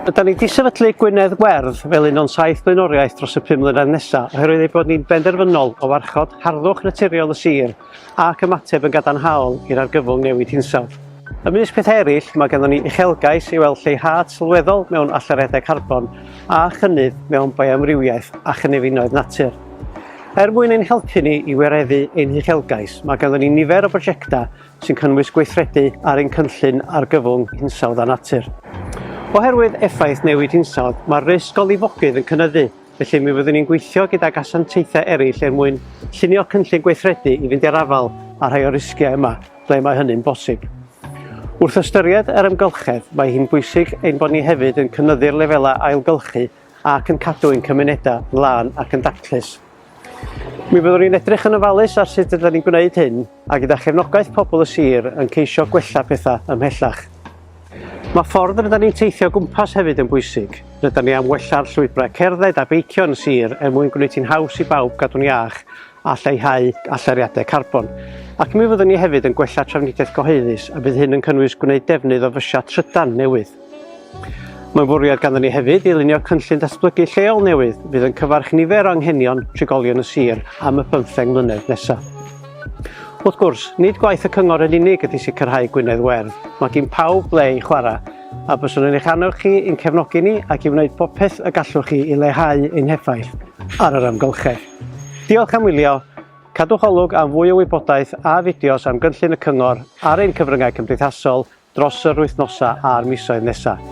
Yda ni wedi sefydlu Gwynedd Werdd fel un o'n saith blaenoriaeth dros y pum mlynedd nesaf oherwydd ei bod ni'n benderfynol o warchod harddwch naturiol y sir ac ymateb yn gadarnhaol i'r argyfwng newid hinsawdd. Ymysg pethau eraill, mae ganddo ni uchelgais i weld lleihad sylweddol mewn allyriadau carbon a chynnydd mewn bioamrywiaeth a chynefinoedd natur. Er mwyn ein helpu ni i wireddu ein huchelgais, mae ganddyn ni nifer o brosiectau sy'n cynnwys gweithredu ar ein cynllun argyfwng hinsawdd a natur. Oherwydd effaith newid hinsawdd, mae'r risg o lifogydd yn cynyddu, felly mi fyddwn ni'n gweithio gydag asiantaethau eraill er mwyn llunio cynllun gweithredu i fynd i'r afael â rhai o'r risgiau yma, ble mae hynny'n bosib. Wrth ystyried yr amgylchedd, mae hi'n bwysig ein bod ni hefyd yn cynyddu'r lefelau ailgylchu ac yn cadw ein cymunedau lan ac yn daclus. Mi fyddwn ni'n edrych yn ofalus ar sut ydym ni'n gwneud hyn a gyda chefnogaeth pobl y sir yn ceisio gwella pethau ymhellach. Mae ffordd rydyn ni'n teithio gwmpas hefyd yn bwysig. Rydyn ni am wella'r llwybrau cerdded a beicio yn sir er mwyn gwneud hi'n haws i bawb gadw'n iach a lleihau allariadau carbon. Ac mi fyddwn ni hefyd yn gwella trafnidiaeth gyhoeddus a bydd hyn yn cynnwys gwneud defnydd o fysiau trydan newydd. Mae'n fwriad ganddyn ni hefyd i lunio cynllun datblygu lleol newydd fydd yn cyfarch nifer o anghenion trigolion y sir am y bymtheng mlynedd nesaf. Wrth gwrs, nid gwaith y cyngor yn unig ydy sicrhau Gwynedd Werdd, mae gin pawb ble i chwarae, a byswn yn eich annog chi i'n cefnogi ni ac i wneud popeth y gallwch chi i lehau ein heffaith ar yr amgylchedd. Diolch am wylio, cadwch olwg am fwy o wybodaeth a fideos am gynllun y cyngor ar ein cyfryngau cymdeithasol dros yr wythnosau a'r misoedd nesaf.